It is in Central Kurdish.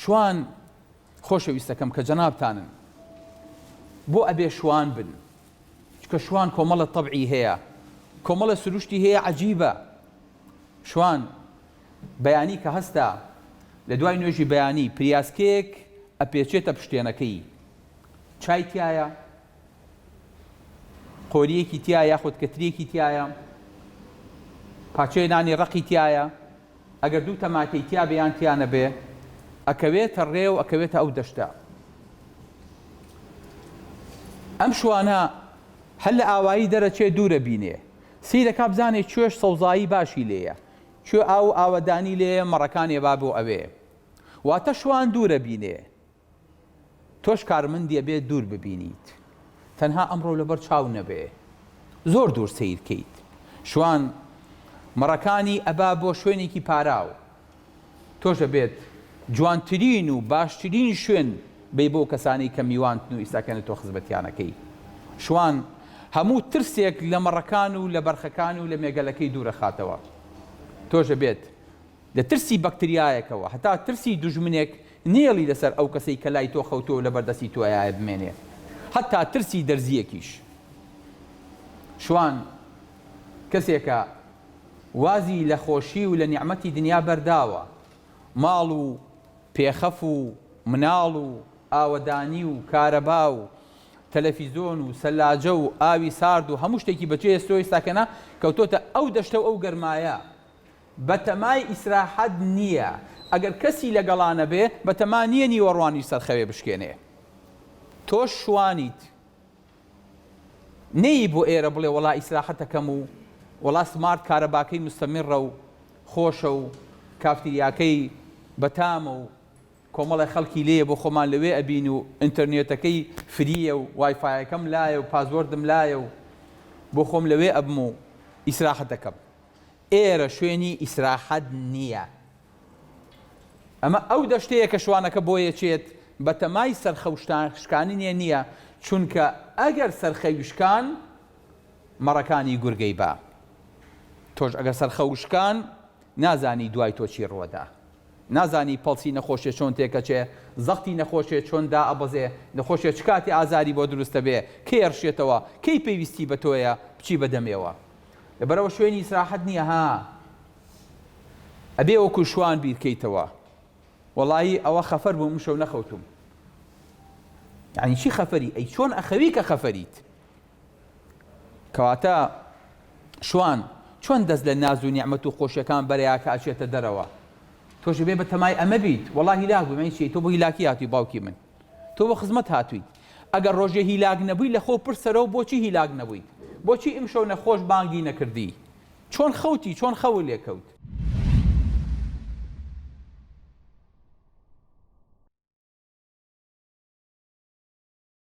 شوان، خۆشەویستەکەم کە جەنابتانن بۆ ئەبێ شوان بن؟ چونکە شوان کۆمەڵە تەبعی هەیە، کۆمەڵە سروشتی هەیە عەجیبە. شوان، بەیانی کە هەستا، لە دوای نوێژی بەیانی پریاسکەیەک ئەپێچێتە پشتێنەکەی، چای تیایە؟ قۆرییەکی تیایە یاخود کەترییەکی تیایە؟ پاچەی نانی ڕەقی تیایە؟ ئەگەر دوو تەماتەی تیابێ یان تیانەبێ ئەکەوێتە ڕێ و ئەکەوێتە ئەو دەشتە. ئەم شوانە هەر لە ئاوایی دەرەچێ دوورە بینێ. سیرەکا بزانێ کوێش سەوزایی باشی لێیە. کوێ ئاو و ئاوەدانی لێیە مەڕەکانێ با بۆ ئەوێ. واتە شوان دوورە بینێ. تۆش کارمندی ئەبێ دوور ببینیت تەنها ئەمڕۆ لەبەر چاو نەبێ زۆر دوور سەیر کەیت شوان مەڕەکانی ئەبا بۆ شوێنێکی پاراو تۆش ئەبێت جوانترین و باشترین شوێن بی بۆ کەسانی کە میوانتن و ئیستاکەنە تۆ خزمەتیانەکەی شوان هەموو ترسێک لە مەڕەکان و لە بەرخەکان و لە مێگەلەکەی دوورە خاتەوە تۆش ئەبێت لە ترسی بەکتریایەکەوە هەتا ترسی دوژمنێک نێڵی لەسەر ئەو کەسەی کە لای تۆ خەوتووە و لەبەر دەستی تۆیایە بمێنێ هەتا ترسی دەرزییەکیش شوان کەسێکە وازی لە خۆشی و لە نیعمەتی دنیا بەرداوە ماڵ و پێخەف و مناڵ و ئاوەدانی و کارەبا و تەلەفیزۆن و سەلاجە و ئاوی سارد و هەموو شتێکی بەچێ هێستۆیستا کەنا کەوتۆتە ئەو دەشتە و ئەو گەرمایە بەتەمای ئیسراحەت نییە ئەگەر کەسی لەگەڵا نەبێ، بەتەما نییە نیوەڕوانی سەر خەوێ بشکێنێ. تۆش شوانیت نەیی بۆ ئێرە بڵێ وەڵا ئیسراحەت ئەکەم و وەڵا سمارت کارەباکەی مستەمیڕە و خۆشە و کافتریاکەی بەتامە و کۆمەڵێ خەڵکی لێیە بۆ خۆمان لەوێ ئەبین و ئینتەرنێتەکەی فرییە و وایفایەکەم لایە و پاسوۆردم لایە و بۆ خۆم لەوێ ئەبم و ئیسراحەت ئەکەم. ئێرە شوێنی ئیسراحەت نییە. ئەمە ئەو دەشتەیە کە شوانەکە بۆیەچێت، بەتەمای سەرخەوشتان شکاننێ نییە، چونکە ئەگەر سەرخەوی شکان، مەڕەکانی گورگەی با. تۆش ئەگەر سەرخەوت شکان، نازانی دوای تۆ چی ڕوەدا. نازانی پەڵسی نەخۆشێ چۆن تێکەچێ، زەختی نەخۆشێ چۆن دائەبەزێ، نەخۆشێ چ کاتێ ئازاری بۆ دروستەبێ، کەی ئەرشێتەوە، کەی پێویستی بە تۆیە، بچی بە دەمێوە. بەرەوە شوێنی ئیسراحەت نیە ها ئەبێ وەکو شوان بیرکەیتەوە وەڵایی ئەوە خەفەر بووم ئمشەو نەخەوتوم یعنی چی خەفەری ئەی چۆن ئەخەوی کە خەفەریت کەواتە شوان چۆن دەست لە ناز و نیعممە و خۆشیەکان بەرەیە کە ئەچێتە دەرەوە تۆش بێ بە تەمای ئەمە بیت وەڵی لاک بوومەی چی تۆ بۆ هیلاکی هاتی باوکی من تۆ بۆ خزمەت هاتوویت؟ ئەگەر ڕۆژێ هیلاک نەبووی لە خۆو پرسەرەوە بۆچی هیلاک نەبوویت؟ بۆچی ئیمشەو نەخۆش بانگی نەکردی؟ چۆن خەوتی؟ چۆن خەوو لێ کەوت؟